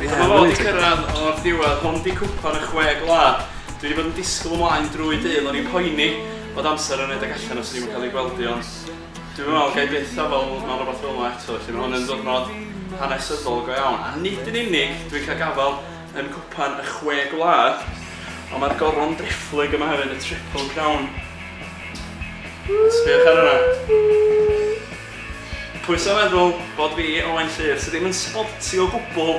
Dyma fo 'di cyrraedd o'r diwedd, hwn 'di cwpan y chwe gwlad. Dwi 'di bod yn disgwyl ymlaen drwy dydd, o'n i'n poeni bod amser yn rhedeg allan os o'n i'm yn cael ei gweld hi ond... Dwi'm yn meddwl gai byth feddwl mewn rwbath fel 'ma eto felly ma' hwn yn ddiwrnod hanesyddol go iawn a nid yn unig dwi'n cael gafal yn cwpan y chwe gwlad ond mae'r goron driphlyg yma hefyd y triple crown sbïwch ar hwnna pwyso meddwl bod fi Owain Llyr sydd ddim yn sbolti o gwbl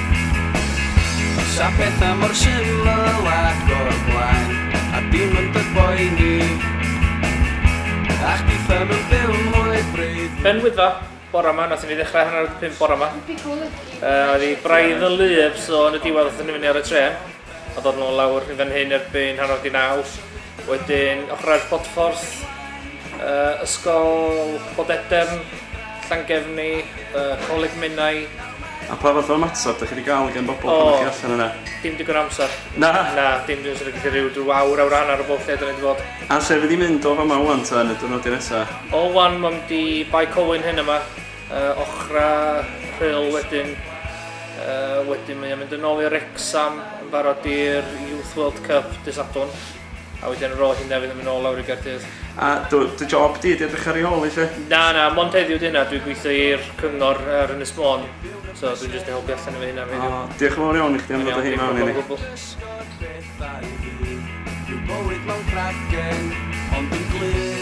Sa petha mor syml ac o'r blaen A dim yn dy boeni A chdi ddim yn byw mwy braidd na Yn Wyddfa, bore ma, nathon ni ddechrau hanner awr 'di pump bore ma. Yy oedd 'i braidd yn wlyb so yn y diwedd nathon ni fyny ar y trên a dod nôl lawr i fan hyn erbyn hanner awr 'di naw. Wedyn ochrau'r Podffordd, yy Ysgol Podedern, Llangefni, yy Coleg Menai. A pa fath o ymateb dych chi wedi cael gan bobl pan ydych chi allan yna? Dim digon o amser. Na? Na, dim dwi'n siŵr gallu rhyw rhyw awr, awr hanner o bob lle dyn ni wedi bod. A lle fydd hi'n mynd o fama ŵan ta yn y diwrnodau nesa? O ŵan mae'n mynd i Bae Colwyn hyn yma. uh, ochra rhyl wedyn. Uh, wedyn mae o'n mynd yn ôl i Rexham yn barod i'r Youth World Cup dy Sadwn. A wedyn ar ôl hynna fydd yn mynd ôl lawr i Gaerdydd. A dy, dy job di, di edrych ar ei ôl i lle? Na, na, mond heddiw di hynna, dwi'n gweithio i'r cyngor ar Ynys Môn. So dwi'n just yn helpu allan efo hynna heddiw. Oh, diolch yn fawr iawn i chdi am ddod o hyn mewn i ni. Dwi'n bywyd mewn cragen, ond yn glir.